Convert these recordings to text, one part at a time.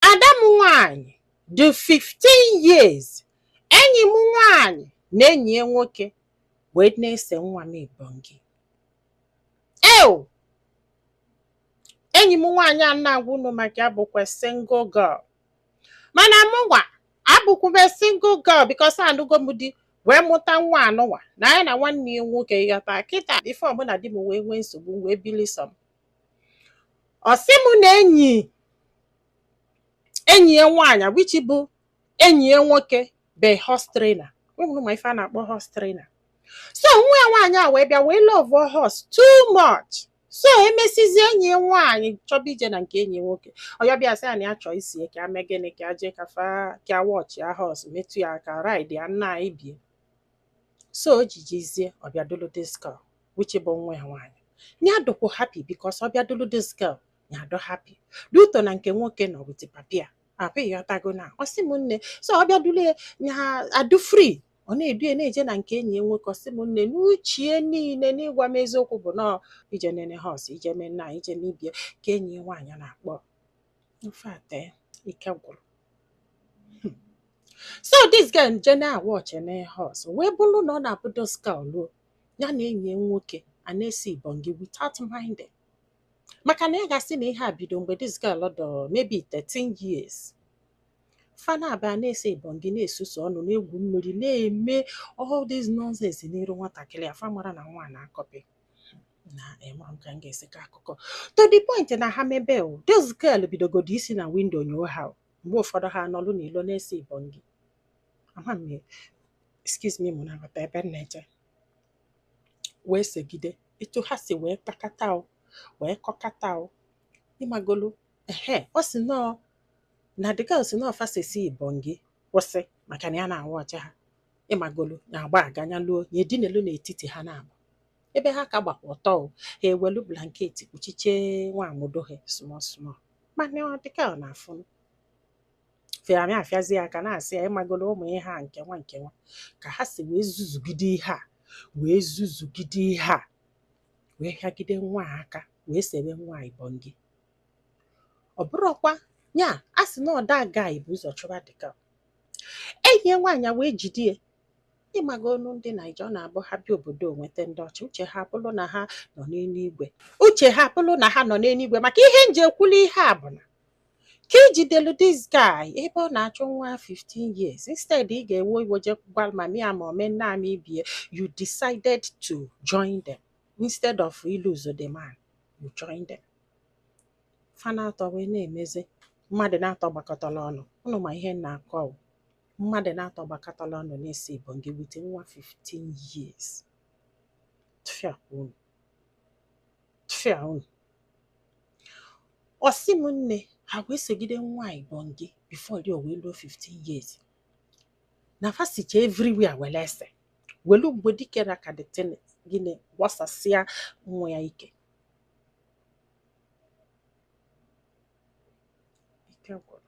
Ada m nwaanyị dị 15 years enyi m nwaanyị na enyi ya nwoke wee na-ese nwa m ibongi ew enyi m nwaanyị a m na-agwa unu maka ya bụkwa single girl mana mụnwa abụkwube single girl because anụgo m di wee mụta nwa anụnwa na ya na nwanne ya nwoke ịghọta kịta before mụ na di m wee nwee nsogbu wee bili sọ m ọ sị mụ na enyi enyi ya nwaanyị which bụ enyi ya nwoke bụ horse trainer unu ma ife a na-akpọ horse trainer so nwa ya nwaanyị a wee bịa wee love horse too much so emesizi enyi ya nwaanyị chọba ije na nke enyi ya nwoke ọ ya-abịa sị ya na ya chọọ iso ya ka ya mee gịnị ka ya jee ka fa ka ya watch ya horse metụ ya aka ride ya nna na ibe ya so o ji jizie ọ bịa dulu this girl which bụ nwa ya nwaanyị ya adụkwu happy because ọ bịa dulu this girl ya adụ happy due to na nke nwoke nọ with papa ya ahụ ịghọtago na ọ sị m nne so ọ bịa dulu ya ya adụ free ọ na-edu ya na-eje na nke enyi ya nwoke ọ sị m nne n'uchie niile n'ịgwa m eziokwu bụ na ọ ije nene horse ije mee nna ije mee ibe ya ka enyi ya nwaanyị na-akpọ in fact eh, ike gwụrụ Hmm. so this girl je na-awatch horse wee bụrụ na ọ na-abụ this girl luo ya na enyi ya nwoke a na-ese ibongi without minding maka na ya ga-asị na ihe a bido mgbe this girl dụ maybe 13 years fa naabọ a na-ese ibongi na-esusu ọnụ na-egwu mmiri na-eme all this nonsense n'iru nwatakịrị a fa mara na nwa na-acopy na ịma m ka m ga-esi kọọ akụkọ to the point na ha mebe o this girl bidogodo isi na window nyoo ha o. mgbe ụfọdụ ha anọlụ n'ilo na-ese ibongi ama m ya excuse me unu na-aghọta ebe m na-eje wee segide etu ha si wee kpakata o wee kọkata o ịmagolu ehe ọ sị na ọ na the girl sị na ọ fa sesịa ibongi kwụsị maka na ya na-awatch ha ịmagolu na-agba aga nya luo ya edinelu n'etiti ha naabọ ebe ha ka gbakwa ọtọ o ha ewelu blanket kpuchiche nwa amudo ha small small mana ọ dịka ọ na-afụ fịamị afịazi ya aka na-asị ya ịmagolu ụmụ ihe a nke nwa nke nwa ka ha si wee zuzugide ihe a wee zuzugide ihe a wee hịagide nwa a aka wee sebe nwa a ibongi ọ bụrụkwa ya a sị na ọ that guy bụ ụzọ chụba dịka enyi ya nwaanyị a wee jide ya ịmaga ọnụ ndị Naija ọ na-abụ ha bịa obodo onweta ndị ọcha uche ha bụrụ na ha nọ n'eluigwe uche ha bụrụ na ha nọ n'eluigwe maka ihe m ji ekwuli ihe a bụ na ka i jidelu this guy ebe ọ na-achụ nwa 15 years instead ị ga-ewe iwe je gwa mami a ma omenna m ibie you decided to join them instead of ịlụso the man you join them fa na-atọ wee na-emezi mmadụ na-atọ gbakọtara ọnụ unu ma ihe m na-akọ o. mmadụ na-atọ gbakọtala ọnụ na-ese ibongi with nwa 15 years tufịa unu tufịa unu ọsị m nne ha wee segide nwa ibongi before dị wee luo 15 years na fa sicha everywhere were ese welu mgbe dike na ka the thing gịnị gbasasịa nwa ya ike ike gwụrụ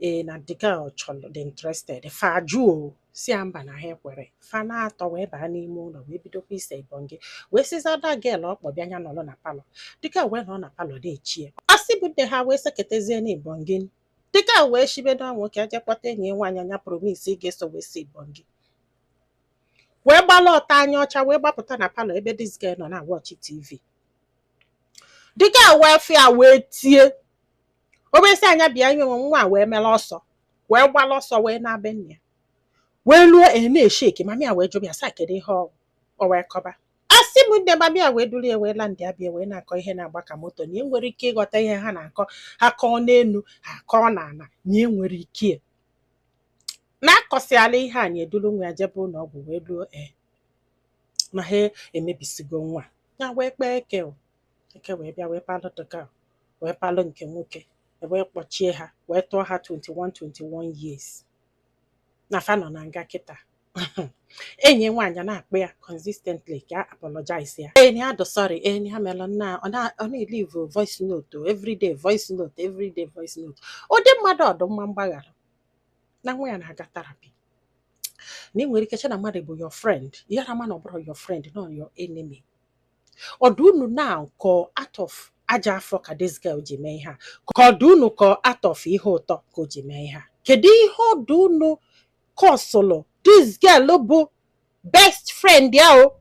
ee na the girl chọrọ dị interested fa jụọ sị ya mba na ha ekwere fa na-atọ wee baa n'ime ụlọ wee bidokwa ise ibongi wee sịzia that girl ọkpọ bịa nya nọrọ na palọ the girl wee nọ na palọ na-eche asị bụ nne ha wee seketezie na ibongi the girl wee shibedo nwoke a je kpọta enyi ya nwaanyị nya promise ị ga-eso wee si ibongi wee gbala ọtọ anya ọcha wee gbapụta na palọ ebe this girl nọ na-watch TV the girl wee fịa wee tie o wee sị ya nya bịa ihe nwe nwa a wee mere ọsọ wee gbala ọsọ wee naa be nne ya wee luo e na-esheki mami a wee jụba ya sị ya kedu ihe ọ o wee kọba asị m nne mami a wee duru ya wee la ndị a bịa wee na-akọ ihe na-agba ka moto na enwere ike ịghọta ihe ha na-akọ ha kọọ n'elu ha kọọ n'ala na enwere ike ya. na-akọsịala ihe a nya eduru nwa ya jebe ụlọ ọgwụ wee luo e na ha emebisigo nwa ya wee kpee eke o. eke wee bịa wee palụ the girl wee palụ nke nwoke wee kpọchie ha wee tụọ ha 21 21 years na fa nọ na nga kịtaa enyi nwaanyị na-akpọ ya consistently ka ọ apologize ya enyi a dụ sorry enyi ha mere na ọ na- ọ na-eleave voice note o, everyday voice note everyday voice note ụdị mmadụ ọ dụ mma mgbaghara na nwa ya na-aga therapy na ị nwere ike che na mmadụ bụ your friend ya na mana ọ bụrọ your friend na your enemy ọ dụ unu na ka ọ out of ajọ afọ ka this girl ji mee ihe a ka ọ dụ unu ka ọ out of ihe ụtọ ka o ji mee ihe a kedu ihe ọ dụ unu kọsụlụ this girl bụ best friend ya o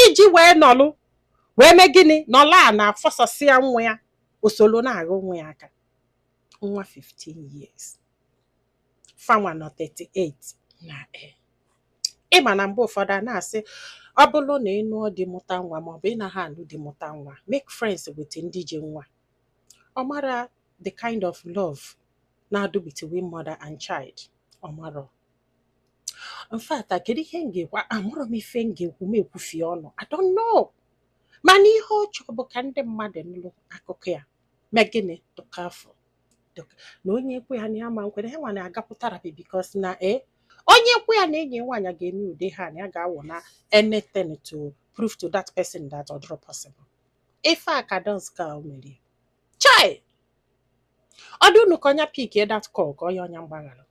iji wee nọlụ wee mee gịnị nọla a na-afọsasịa nwa ya o solo na-agha nwa ya aka nwa 15 years fa nwa nọ 38 na e ị ma na mgbe ụfọdụ a na-asị ọ bụrụ na ị nụọ di mụta nwa maọbụ ị naghị anụ di mụta nwa make friends with ndị ji nwa ọ mara the kind of love na-adụ between mother and child ọ marọ in fact a kedu ihe m ga-ekwu amarọ m ife m ga-ekwu m ekwufie ọnụ I don't know mana ihe ọ chọrọ bụ ka ndị mmadụ nụrụ akụkọ ya mee gịnị tụka afọ na onye ekwe ya na ya ma nkwere ha nwa na-agapụ therapy because na e onye ekwe ya na enyi ya nwaanyị ga-eme ude ha na ya ga-awụ na anything to prove to that person that ọ dịrọ possible ife a ka dance ka o merie chai ọ dụ unu ka ọ nya pick that call ka ọ ya ọ nya mgbaghara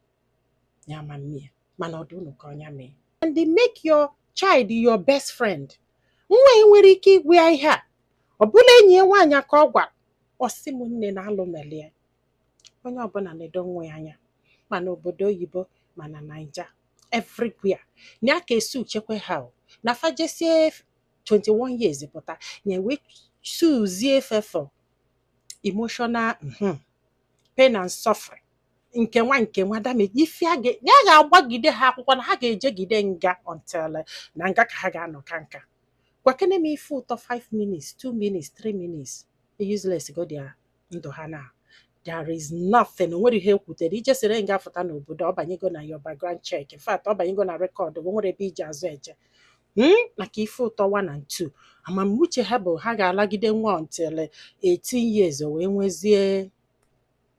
ya ma mmie mana ọ dụ unu ka ọ nya mee and they make your child your best friend nwa ya nwere ike ịgwa ya ihe a ọ bụla enyi ya nwaanyị ka ọ gwara ọ sị m nne na alụ melie onye ọbụla na-edo nwa ya anya ma n'obodo oyibo ma na naija everywhere na ya ka e sue chekwe ha o. na fa jesie 21 years pụta na e wee suezie fa for emotional mhm, pain and suffering nke nwa nke nwa damage ife a ga ya ga-agbagide ha akwụkwọ na ha ga-ejegide nga until eh, na nga ka ha ga-anọ kaa nka gwakene m ife ụtọ 5 minutes 2 minutes 3 minutes useless go dia ndụ ha na there is nothing o nwerọ ihe e kwutere i jesịrị nga fụta n'obodo ọ banyego na your background check in fact ọ banyego na record o nwerọ ebe e ji azụ eje Hmm? maka ife ụtọ 1 and 2 ama m uche ha bụ ha ga-alagide nwa until eh, 18 years o wee nwezie